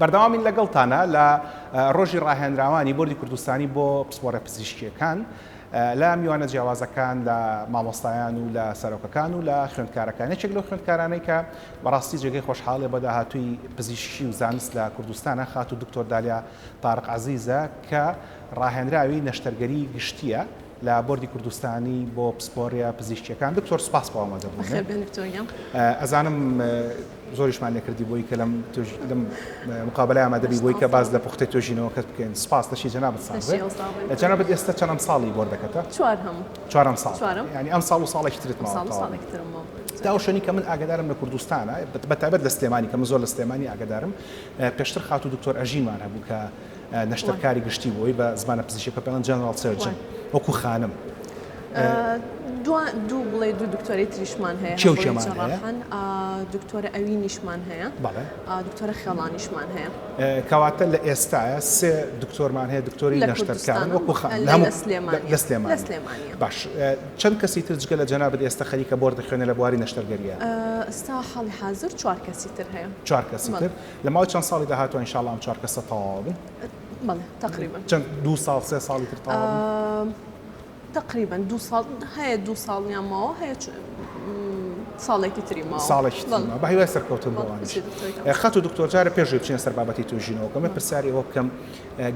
بەردەوامین لەگەڵتانە لە ڕۆژی ڕاهێنراوانی بۆردی کوردستانی بۆ پسپۆڕە پزیشکیەکان لە میوانە جیاوازەکان لە مامۆستایان و لە سەرۆکەکان و لە خوێندکارەکان یەکێک لەو خوێندکارانەی کە بەڕاستی جێگەی خۆشحاڵێ بە داهاتووی پزیشکی و زانست لە کوردستانە خاتو دکتۆر دالیا تارق عزیزە کە ڕاهێنراوی نەشتەرگەری گشتیە لە بۆردی کوردستانی بۆ پسپۆرە پزیشکیەکان دکتۆر سپاس بۆ ئامادە بوونە ئەزانم زۆریشمان لەکردی بۆی کە لەم لەم مقابلای ئامادەبی بۆی کە باز لە پوختی توێژینەوەکەت بکەین سپاس دەشی جناب جنابەت ئێستا چەندم ساڵی بۆردەکەتە چوارم ساڵ ینی ئەم ساڵ و ساڵێکی ترت داوشێنی کە من ئاگدارم لە کوردستانە بەتابەت لە سلێمانی کە من زۆر لە سلێمانی ئاگدارم پێشتر خاتو دکتۆر ئەژیمان هەبوو کە نەشتەرکاری گشتی بووی بە زمانە پزیشەکە پێڵن جەنراڵ سرجن وەکو خانم. دو دوو بڵێ دوو دکتۆری تریشمان هەیە دکتۆرە ئەوی نیشمان هەیە دکتۆرە خێڵانیشمان هەیە کەواتە لە ئێستاە سێ دکتۆرمان هەیە دکتۆری لەشتەرکارن وەکو باش چەند کەسی تر جگە لە جەنابەت ئێستا خەریکە بۆر دەخوێنە لە بواری نەشتەرگەریە ئستا حاڵی حاضر چوار کەسی تر هەیە چوار کەسی تر لە ماوەی چەند ساڵی داهاتوە ان شاءاللە ئەم چوار کەسە تەواو ئەبن؟ بەڵێ تەقریبەن چەند دوو ساڵ سێ ساڵی تر تەواو ئەبن؟ تەقریبەن دوو ساڵ هەیە دوو ساڵیان ماوە هەیە ساڵێکی تری ماوە ساڵێکی تری ماوە بە هیوای سەرکەوتن بۆوانیش خەت و دکتۆر جارە پێشوی بچین سەر بابەتی توێژینەوە کەمە پرسیاری ئەوە بکەم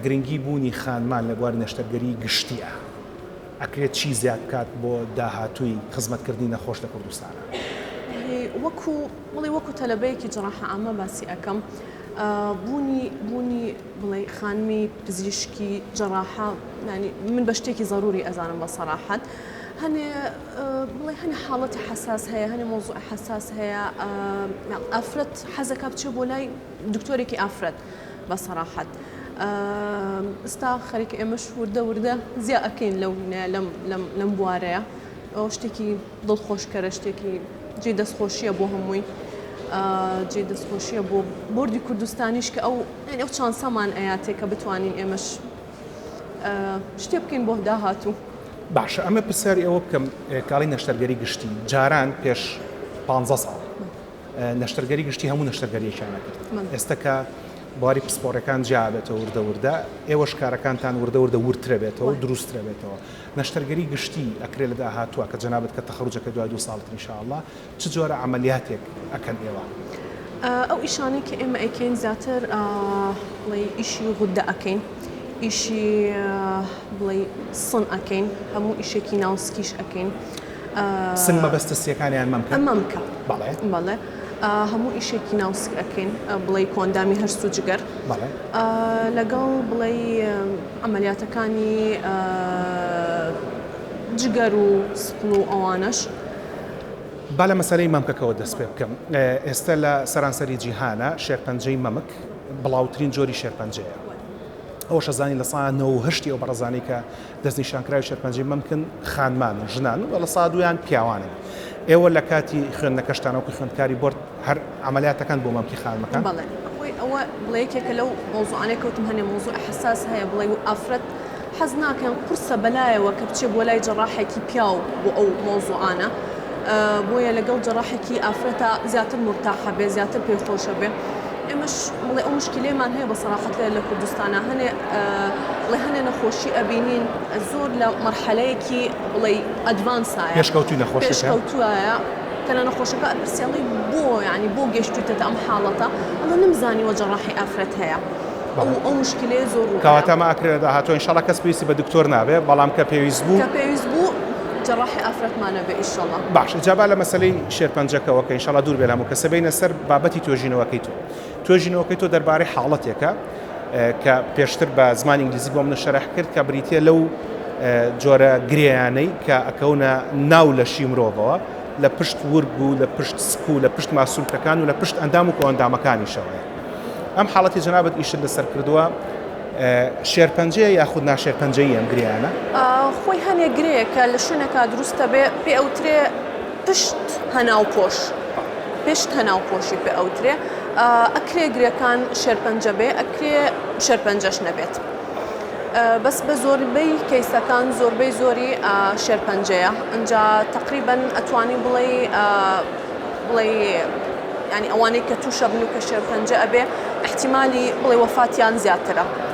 گرنگی بوونی خانمان لە بواری نەشتەرگەری گشتیە ئەکرێت چی زیاد بکات بۆ داهاتووی خزمەتکردنی نەخۆش لە کوردستان؟ وەکو بڵێ وەکو تەلەبەیەکی جڕاحە ئامە باسی ئەەکەم بوونی بوونی بڵێ خانمی پزیشکی جڕاحە من بە شتێکی زەروری ئەزانم بە سەراحەت هەنێ بڵێ هەنێ حاڵەتی حساس هەیە هەنێ مۆزوع حساس هەیە ئافرەت حەزەکە بچێ بۆ لای دکتۆرێکی ئافرەت بەسەراحەت ئستا خەریکە ئێمەش وردە وردە زیا ئەکەین لەو لەم بوارەیە ئەو شتێکی دڵخۆشکەرە شتێکی جێ دەستخۆشیە بۆ هەمووی جێ دەستخۆشیە بۆ بردی کوردستانیش کە ئەو ئەو چند سامان ئەیاتێ کە بتوانین ئێمەش شتێ بکەین بۆ داهاتوو. باشە ئەمە پرسیاری ئەوە بکەم کاڵی نەشتەرگەری گشتی جاران پێش پ ساڵ نەشتەرگەری گشتی هەموو نەشتەرگەریەکیان نەکرد ئێستا کە بواری پسپۆڕەکان جیابێتەوە وردە وردە ئێوە شکارەکانتان وردە وردە وردترە بێتەوە و دروسترە بێتەوە نەشتەرگەری گشتی ئەکرێت لە داهاتووە کە جەنابەت کە تەخرجەکە دوای دو ساڵتر انشاءاللە چ جۆرە عملیاتێک ئەکەن ئێوە؟ ئەو ئیشانەی کە ئێمە ئەیکەین زیاتر بڵێ ئیشی غودە ئەکەین ئیشی بڵێ سن ئەکەین هەموو ئیشێکی ناوسکیش ئەکەین. سنگ مەبەستە سیەکان یان مەمکە؟ مەمکە بەڵێ بەڵێ هەموو ئیشێکی ناو سک ئەکەین بڵێ کۆندامی هەرست و جگەر لەگەڵ بڵێ ئەمەلیاتەکانی جگەر و سکڵ و ئەوانش با لە مەسەرەی مەمکەکەەوە دەست پێ بکەم ئێستا لە سەرانسەری جیهانە شێرپەنجەی مەمک بڵاوترین جۆری شێرپەنجەیە ئەو شەزانی لە ساانەوە هەشتی ئەو بەڕزانانی کە دەستنیشانکراوی شێرپەنجەی مەمکن خانمان، ژنان، و لە سا دوویان پیاوانن. ئێوە لە کاتی خوێندنەکەشتان وەکو خوێندکاری بۆرد هەر عەمەلیاتەکان بۆ مەمکی خانمەکان؟ بەڵێ. خۆی ئەوە بڵێ یەکێکە لەو مەوزوعانەی کەوتم هەنێ مەوزوعی حەساس هەیە بڵێ و ئافرەت حەز ناکەن قورسە بەلایەوە کە بچێ بۆ لای جەراحێکی پیاو بۆ ئەو مەوزوعانە بۆیە لەگەڵ جەراحێکی ئافرەتا زیاتر مورتاحە بێ زیاتر پێی خۆشە بێ. ئێمەش بڵێ ئەو مشکلەیەمان هەیە بە سەراحەت لێرە لە کوردستانا هەنێ بڵێ هەنێ نەخۆشی ئەبینین زۆر لە مەرحەلەیەکی بڵێ ئەدڤانسایە پێشکەوتوی نەخۆش پێشکەوتوایە کە لە نەخۆشەکە ئەپرسیڵی بۆ ینی بۆ گەشتوتە ئەم حاڵەتە ئەڵە نمزانی وە جەڕاحی ئافرەت هەیە ئەو مشکلەیە زۆر کەواتەمە ئەکرێت داهاتۆ انشاءاللە کەس پێویستی بە دکتۆر نابێ بەڵام کە پێویست بوو کە پێویست بوو جەڕاحی ئافرەتمانە بێ ئیشەڵا باش جا با لە مەسەلەی شێرپەنجەکەوە کە ئینشاڵا دوور بێ لە هەموو کەسە بێینە سەر بابەتی توێژینەوەکەی تۆ توێژینەوەکەی تۆ دەربارەی حاڵەتێکە کە پێشتر بە زمانی ئینگلیزی بۆ منە شەرح کرد کە بریتە لەو جۆرە گرێیانەی کە ئەکەونە ناو لە شی مرۆڤەوە لە پشت ورگ و لە پشت سکو لە پشت ماسوولکەکان و لە پشت ئەندام و کۆئەندامەکانیشەوە ئەم حاڵەتی جەنابەت ئیشت لەسەر کردووە شێرپەنجەیە یاخود ناشێرپەنجەیی ئەم گریانە خۆی هەنێ گرەیەکە لە شوێنەکە دروستە بێ پێ ئەوترێ پشت هەناوپۆش پشت هەناوپۆشی پێ ئەوترێ ئەکرێ گرێکان شێرپەنجە بێ ئەکرێ شێرپەنجەش نەبێت بەس بە زۆربەی کەیسەکان زۆربەی زۆری شێرپەنجەیە ئەجا تقریبن ئەتوانی بڵێ بڵێ ینی ئەوانەی کە تووشە بن و کە شێرپەنجە ئەبێ احتیممالی بڵێ وەفاتیان زیاترە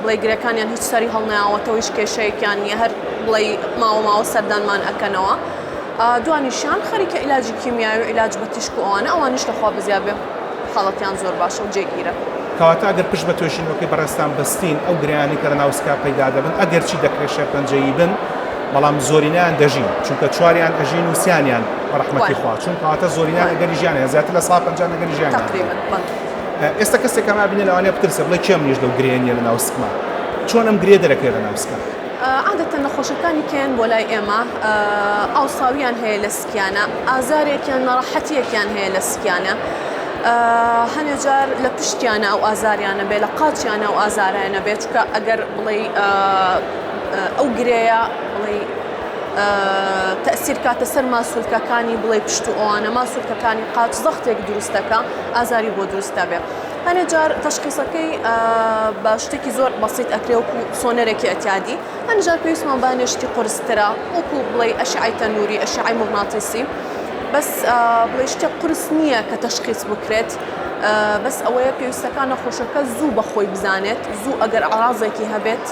بڵێی گرەکانیان هیچ سەری هەڵنەیاوەتەوە هیچ کێشەیەکیان نییە هەر بڵێی ماوە ماوە سەردانمان ئەکەنەوە دوانیشان خەریکە علاجی کیمیاوی و علاج بە تیشک و ئەوانە ئەوانیش لەخوا بزیابێ حاڵەتیان زۆر باشە و جێگیرە. کەواتە ئەگەر پشت بە توێژینەوەکەی بەڕێزتان بەستین ئەو گرەیانەی کە لە ناو سکا پەیدا دەبن ئەگەرچی دەکرێت شێرپەنجەیی بن بەڵام زۆرینەیان دەژین چونکە چواریان ئەژین و سیانیان بە ڕەحمەتی خوا چوون کەواتە زۆرینەیان ئەگەری ژیانیان زیاتر لە سەد و پەنجا ئەگەری ژیانیان هەیە. ئێستا کەسێک ئەما بینێ لەوانەیە بترسێ بڵێ کێ منیش لەو گرێ نیە لە ناو سکما چۆن ئەم گرێ دەرەکرێ لە ناو سکا عادەتە نەخۆشەکانی کێن بۆ لای ئێمە ئاوساویان هەیە لە سکیانە ئازارێکیان ناڕەحەتیەکیان هەیە لە سکیانە هەنێ جار لە پشتیانە ئەو ئازاریانە بێ لە قاچیانە و ئازارانە بێت چکە ئەگەر بڵێ ئەو گرەیە بڵێ تەسیر کاتە سەر ماسولکەکانی بڵێ پشت و ئەوانە ماسولکەکانی قاچ زەختێک دروستەکە ئازاری بۆ دروستە بێت هەنێ جار تەشخیسەکەی بە شتێکی زۆر بەسییت ئەکرێ وکو سۆنەرێکی ئەتیادی هەنجار پێویستمان بانێشتی قرسترا وەکو بڵێ ئەشعی تەنووری ئەشعی مغناتیسی بەس بڵێ شتێک قرس نییە کە تەشخیص بکرێت بەس ئەوەیە پێویستەکان نەخۆشەکە زوو بەخۆی بزانێت زوو ئەگەر ئارازێکی هەبێت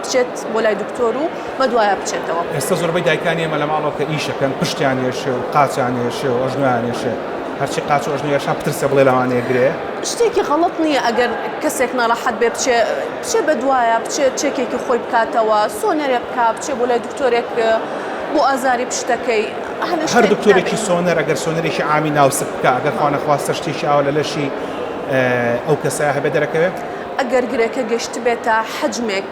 بچێت بۆ لای دکتۆر و بەدوایە بچێتەوە. ئێستا زۆربەی دایکانی ئێمە لەماڵەوە کە ئیش ئەکەن پشتیان ئێشێ و قاچیان ئێشێ و ئەژنۆیان ئێشێ، هەرچی قاچ و ئەژنۆ ئێشان پترسە بڵێ لەوان ئێگرێ. شتێکی غەڵەت نییە ئەگەر کەسێک ناڕەحەت بێ بچێ بچێ بەدوایە بچێ چێکێکی خۆی بکاتەوە، سۆنەرێ بکا، بچێ بۆ لای دکتۆرێک بۆ ئازاری پشتەکەی، هەر دکتۆرێکی سۆنەر ئەگەر سۆنەرێکی عامی ناوسک بکا ئەگەر خوا نەخواستە شتێکی ئاوا لە لەشی ئەو کەسە هەبێ دەرەکەوێ. ئەگەر گرێکە گەشتبێتە حەجمێک.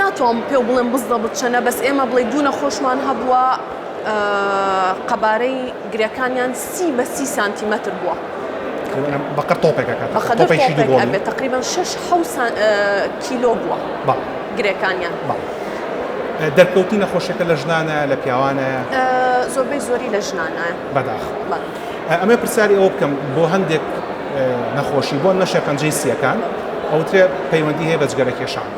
ناتوام پێو بڵێم بزدەبت چەنە بەس ئێمە بڵێ دوو نەخۆشمان هەبووە قەبارەی گرەکانیان سی بە سی سانتیمەتر بووە بەقەر تۆپێکەکە تقریبان 6 کیلۆ بووە گرێکانیان دەرکەوتی نەخۆشەکە لە ژنانە لە پیاوانە زۆربەی زۆری لە ژنانە بەداخ ئەمە پرسیاری ئەوە بکەم بۆ هەندێک نەخۆشی بۆ نەشە پەنجەی سیەکان ئەوترێ پەیوەندی هەیە بە جگەرە کێشان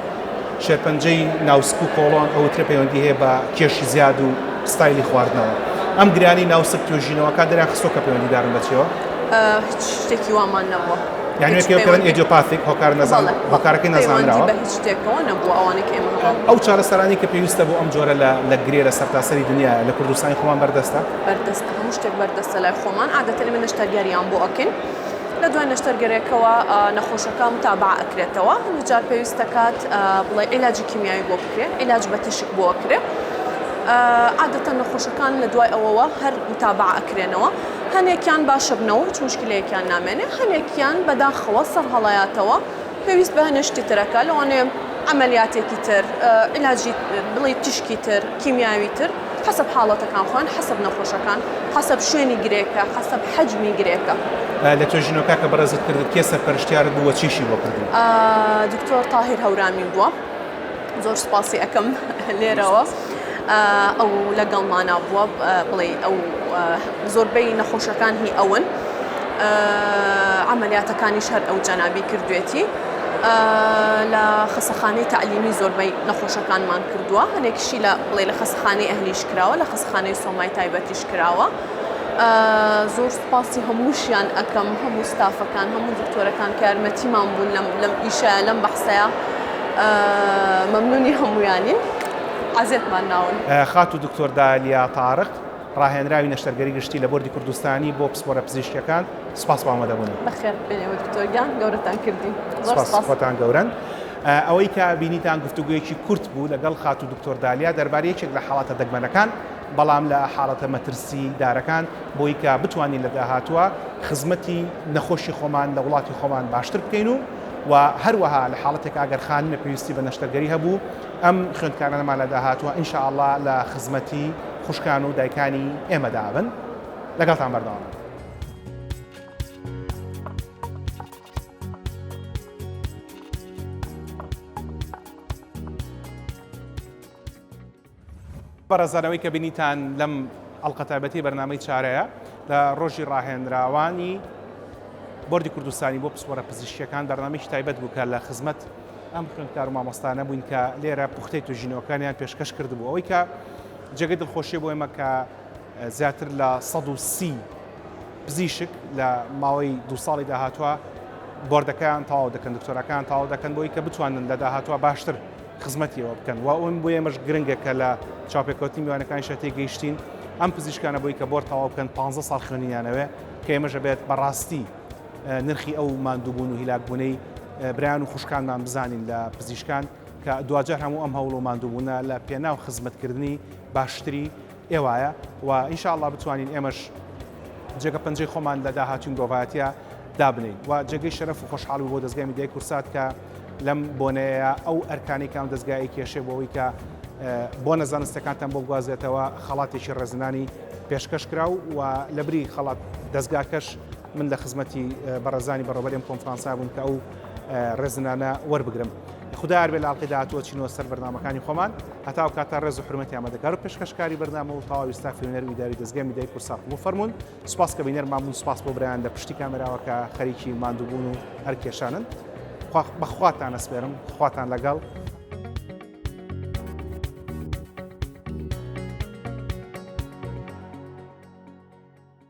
شێرپەنجەی ناو سک و کۆڵۆن ئەو وترە پەیوەندی هەیە بە کێشی زیاد و ستایلی خواردنەوە. ئەم گرانی ناو سک توێژینەوەکان دەریان خستووە کە پەیوەندیدارن بە چییەوە؟ هیچ شتێکی وامان نەبووە. یانی هیچ پێوەندی- پێوەندی ئێدیۆپاتیک، هۆکار نەزان- بەڵێ. هۆکارەکەی نەزانراوە. پەیوەندی بە هیچ شتێکەوە نەبووە ئەوانەی کە ئێمە هەمان ئەو چارەسەرانەی کە پێویستە بۆ ئەم جۆرە لە لە گرێ لە سەرتاسەری دنیا لە کوردستانی خۆمان بەردەستە؟ بەردەستە هەموو شتێک بەردەستە لای خۆمان عادەتەن ئێمە نەشتەرگەریان بۆ ئەکەین. لە دوای نەشتەرگەرێکەوە نەخۆشەکە متابعە ئەکرێتەوە هەندجار پێویست دەکات بڵێ عیلاجی کیمیاوی بۆ بکرێت عیلاج بە تیشک بۆ کرێت عادەتە نەخۆشەکان لە دوای ئەوەوە هەر متابع ئەکرێنەوە هەنێکیان باشە بنەوە هیچ مشکلەیەکیان نامێنێ هەنێکیان بەداخەوە سەر هەڵەیاتەوە پێویست بە هەنێشتی ترەکە لەوانێ عملیاتێکی تر عیلاجی بڵی تیشکی تر کیمیاوی تر حەسەب حاڵەتەکان خۆن، حەسەب نەخۆشەکان، حەسەب شوێنی گرێکە، حەسەب حەجمی گرێکە. لە توێژینەوە کاکە بەڕێزت کردت کێ سەرپەرشتیارت بوو و چیشی بۆ کردوو؟ دکتۆر تاهیر هەورامی بووە زۆر سپاسی ئەەکەم لێرەوە ئەو لەگەڵمانە بووە بڵێ ئەو زۆربەی نەخۆشەکان هی ئەون عملیاتەکانیش هەر ئەو جەنابی کردوێتی لە خەسەخانەی تعلیمی زۆربەی نەخۆشەکانمان کردووە هەنێکشی لە بڵێ لە خەسخانەی ئەهلیش کراوە لە خەسخانەی سۆمای تایبەتیش کراوە زۆر سپاسی هەمووشیان ئەەکەم هەموو ستافەکان هەموو دکتۆرەکان کارمەتیمان بوون لەم لەم ئیشە لەم بەحسەیە مەمنونی هەمویانین عزیێتمان ناون خاتو دکتۆر دالیا تارق ڕاهێنراوی نەشتەرگەری گشتی لە بۆردی کوردستانی بۆ پسپۆرە پزیشکیەکان سوپاس بۆ ئامادەبوونی. بەخێر بێنەوە دکتۆر گیان گەورەتان کردین. زۆر سوپاس. سوپاس خۆتان گەورەن. ئەوەی کە بینیتان گفتوگۆیەکی کورت بوو لەگەڵ خاتوو دکتۆر دالیا دەربارەی یەکێک لە حاڵەتە دەگمەنەکان، بەڵام لە حاڵەتە مەترسیدارەکان بۆی کە بتوانین لە داهاتووە خزمەتی نەخۆشی خۆمان لە وڵاتی خۆمان باشتر بکەین و و هەروەها لە حاڵەتێکا ئەگەر خانمێک پێویستی بە نەشتەرگەری هەبوو ئەم خوێندکارانەمان لە داهاتووە ان شاء اللە لە خزمەتی خوشکان و دایکانی ئێمەدا بن لەگەڵتان بەردەوام. بەڕێزانەوەی کە بینیتان لەم ئەڵلقە تایبەتی بەرنمەی چارەیە لە ڕۆژی ڕاهێنراوانی بردی کوردستانی بۆ پسپۆرە پزیشکەکان بەرنمەی تایبەت بوو کە لە خزمەت ئەم خوێندکار و مامۆستانە بووین کە لێرە پوختەی توێژینەوەکانیان پێشکەش کردبوو ئەوەی کە جێگەی دڵخۆشیە بۆ ئێمە کە زیاتر لە 130 پزیشک لە ماوەی دو ساڵی داهاتوە بۆردەکەیان تەواو دەکەن دکتۆرەکان تەواو دەکەن بۆی کە بتوانن لە داهاتوە باشتر خزمەتیەوە بکەن و ئەوم بۆ ئێمەش گرنگە کە لە چاپێکوتی میوانەکان شەتی گەیشتین ئەم پزیشکانە بۆی کە بۆر تەواو بکەن 15 ساڵ خوێنیانەوێ کە ئێمەژە بێت بەڕاستی نرخی ئەو ماندووبوون و هیلاکبوونەی برایان و خوشکانمان بزانین لە پزیشکان کە دواجار هەموو ئەم هەوڵ و ماندووبوونە لە پێناو خزمەتکردنی باشتری ئێوایە و ئینشاءاللە بتوانین ئێمەش جێگە پەنجەی خۆمان لە داهاتوو مرۆڤایەتە دابنین و جێگەی شەرەف و خۆشحاڵی بۆ دەستگای میدیای کورسات کە لەم بۆنەیە ئەو ئەرکانەی کام دەستگای کێشێ بۆەوەی کە بۆ نەزانستەکانتان بۆ بگوازێتەوە خەڵاتێکی ڕێزنانی پێشکەش کرا و لە بری خەڵات دەستگاکەش من لە خزمەتی بەڕێزانی بەڕێوەبەری ئەم کۆنفرانسە بووم کە ئەو ڕێزنانە وەربگرم خودا هەر بێ لە ئاڵقەی داهاتووە چینەوە سەر بەرنامەکانی خۆمان هەتا ئەو کاتە ڕێز و حورمەتی ئامادەکار و پێشکەشکاری بەرنامە و تەواوی ستافی هونەر و ئیداری دەزگای میدیای کورسات قبوڵ فەرموون سوپاس کە بینەر مامون سوپاس بۆ برایان لە پشتی کامێراوە کە خەریکی ماندووبوون و هەر کێشانن بەخواتان ئەسپێرم خواتان لەگەڵ